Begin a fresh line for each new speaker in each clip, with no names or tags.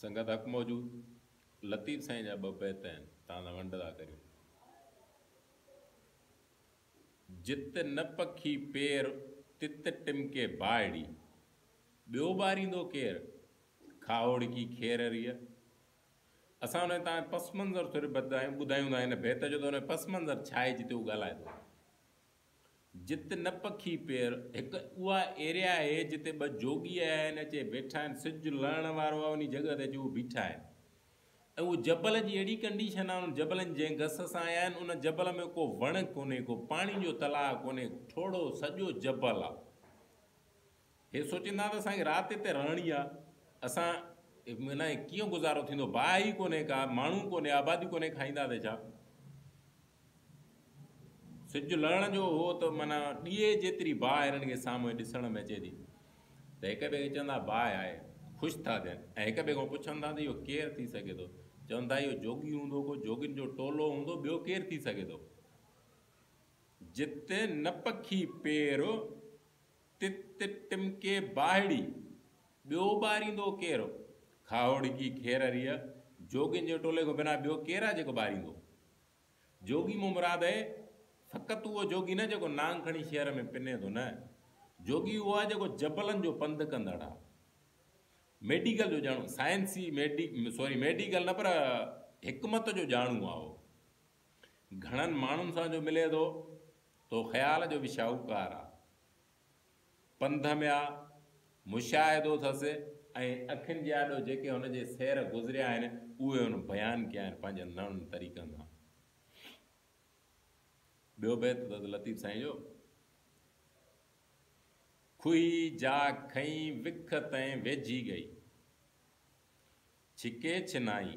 سنگت حق موجود لطيف سائين جا ٻه بيت آهن توهان سان ونڊ ٿا ڪريون. جت نه پکي پير تت ٽمڪي باهڙي، ٻيو ٻاريندو ڪير؟ کاهوڙڪي کير ريء. اسان هن تان پس منظر ٿوري ٻڌايون ٻڌايون ٿا هن بيت جو ته هن پس منظر ڇا آهي جتي هو ڳالهائي ٿو. جت نه پکي پير، هڪ اها ايريا اهي جتي ٻه جوڳي آيا آهن اچي ويٺا آهن سج لهڻ وارو آهي انهي جڳهه تي اچي هو بيٺا آهن ۽ اهو جبل جي اهڙي ڪنڊيشن آهي انهن جبلن جنهن گس سان آيا آهن ان جبل ۾ ڪو وڻ ڪونهي ڪو پاڻي جو تلاء ڪونهي ٺوڙهو سڄو جبل آهي هي سوچيندا ته اسان کي رات هتي رهڻي آ، اسان بنا هي ڪيئن گذارو ٿيندو، باهه ئي ڪونهي ڪا، ماڻهو ڪونهي، آبادي ڪونهي، کائيندا ته ڇا؟ سج لهڻ جو هو ته معنيٰ ڏيئي جيتري باهه هنن کي سامهون ڏسڻ ۾ اچي ٿي ته هڪ ٻئي کي چون ٿا باهه آهي، خوش ٿا ٿين ۽ هڪ ٻئي کان پڇن ٿا ته اهو ڪير ٿي سگهي ٿو؟ چون ٿا اهو جوڳي هوندو، ڪو جوڳين جو ٽولو هوندو، ٻيو ڪير ٿي سگهي ٿو؟ جت نه پکي پير. تت تت ٽمڪي باهڙي، ٻيو ٻاريندو ڪير؟ کاهوڙڪي کير ريء، جوڳين جي ٽولي کان بنا ٻيو ڪير آهي جيڪو ٻاريندو؟ جوڳي مان مراد اهي، فقط اهو جوڳي نه جيڪو نانگ کڻي شهر ۾ پني ٿو، نه، جوڳي اهو آهي جيڪو جبلن جو پنڌ ڪندڙ آهي. ميڊيڪل جو ڄاڻو، سائنسي، سوري ميڊيڪل نه پر حڪمت جو ڄاڻو آهي اهو. گهڻن ماڻهن سان جو ملي ٿو، تو خيال جو به شاهوڪار آ. پنڌ ۾ آ، مشاهدو اٿس ۽ اکين جي آڏو جيڪي هن جي سير گذريا آهن، اهي هن بيان ڪيا آهن پنهنجن نئن طريقن سان. ٻيو بيت اٿس لطيف سائين جو. کهي جا کئين وک تئين ويجهي ڳئي. ڇڪي ڇنائي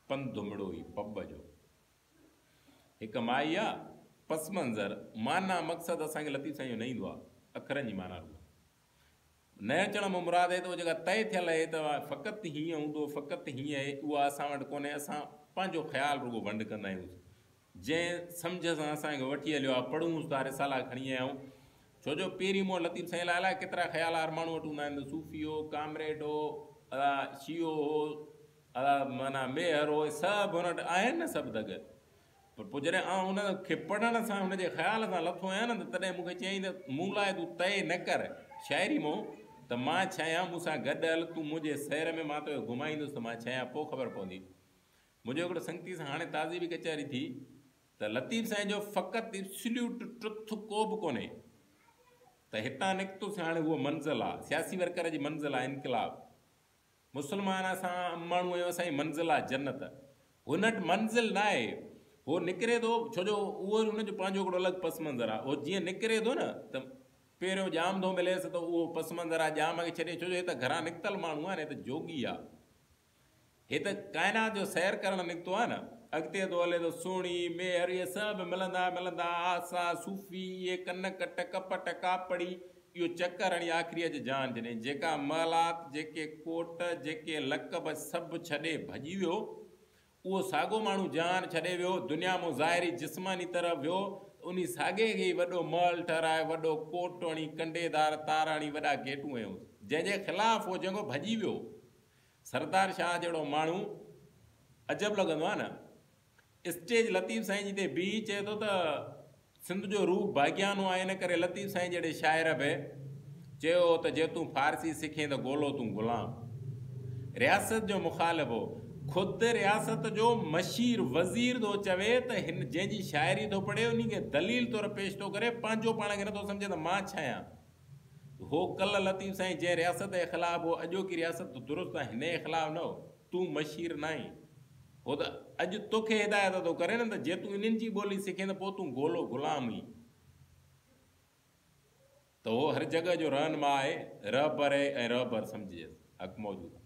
پن دمڙوئي پٻ جو. هڪ مائي آ، پس منظر، معنيٰ، مقصد اسان کي لطيف سائين جو نه ايندو آ، اکرن جي معنيٰ روح نه اچڻ مان مراد اهي ته اهو جيڪا طئي ٿيل اهي ته فقط هيئن هوندو فقط هيئن اهي اها اسان وٽ ڪونهي اسان پنهنجو خيال رڳو ونڊ ڪندا آهيون جنهن سمجهه سان اسان کي وٺي هليو آ، پڙهون اٿ ٿا رسالا کڻي آيا آهيون. ڇو جو پيري مون لطيف سائين لاء الائي ڪيترا خيال هر ماڻهو وٽ هوندا آهن ته صوفي هو، ڪامريڊ هو، ادا شيعو هو، ادا معنيٰ ميهر هو، اهي سڀ هن وٽ آهن نه سڀ دڳ. پر پوء جڏهن آئون ان کي پڙهڻ سان ان جي خيال سان لٿو آهيان نه ته تڏهن مون کي چيائين ته مون لاء تون طئي نه ڪر شاعري مون ته مان ڇا آهيان مون سان گڏ هل تون منهنجي سير ۾ مان توکي گهمائيندس ته مان ڇا آهيان پوء خبر پوندي. منهنجو هڪڙو سنگتي سان هاڻي تازي به ڪچهري ٿي ته لطيف سائين جو فقط ابسليوٽ ٽروٿ ڪو به ڪونهي ته هتان نڪتو سي هاڻي هوء منزل آ سياسي ورڪر جي منزل آ انقلاب مسلمان اسان عام ماڻهو آهيون اسان جي منزل آ جنت هن وٽ منزل ناهي هو نڪري ٿو ڇو جو اهو هن جو پنهنجو هڪڙو الڳ پس منظر آ هو جيئن نڪري ٿو نه ته پهريون ڄام ٿو مليس ته اهو پس منظر آ ڄام کي ڇڏي ڇو جو هي ته گهران نڪتل ماڻهو آ نه هي ته جوڳي آ. هي ته ڪائنات جو سير ڪرڻ نڪتو آهي نه. اڳتي ٿو هلي ته سهڻي، ميهر اهي سڀ ملندا ملندا آسا، صوفي، اهي ڪنڪ، ٽڪ پٽ، ڪاپڙي، اهو چڪر هڻي آخري اڄ جان جني، جيڪا محلات، جيڪي ڪوٽ، جيڪي لقب سڀ ڇڏي ڀڄي ويو. اهو ساڳو ماڻهو جهان ڇڏي ويو، دنيا مون ظاهري جسماني طرح ويو ته انهي ساڳي کي ئي وڏو محل ٺهرائي، وڏو ڪوٽ هڻي، ڪنڊيدار تار هڻي وڏا گيٽون هنيونس. جنهن جي خلاف هو جهنگو ڀڄي ويو. سردار شاهه جهڙو ماڻهو عجب لڳندو آهي نه. اسٽيج لطيف سائين جي تي بيهي چئي ٿو ته سنڌ جو روح باغيانو آهي ان ڪري لطيف سائين جهڙي شاعر به چيو هو ته جي تون فارسي سکين ته گولو تون غلام رياست جو مخالف هو خود رياست جو مشير وزير ٿو چوي ته هن جنهن جي شاعري ٿو پڙهي انهي کي دليل طور پيش ٿو ڪري پنهنجو پاڻ کي نٿو سمجهي ته مان ڇاهيان. هو ڪل لطيف سائين جنهن رياست جي خلاف هو اڄوڪي رياست ته درست آهي هن جي خلاف نه هو تون مشير ناهين هو ته اڄ توکي هدايت ٿو ڪري نه ته جي تون انهن جي ٻولي سکين ته پوء تون گولو غلام هين ته هو هر جڳهه جو رهنما آهي رهبر آهي ۽ رهبر سمجهجيس حق موجود آهي.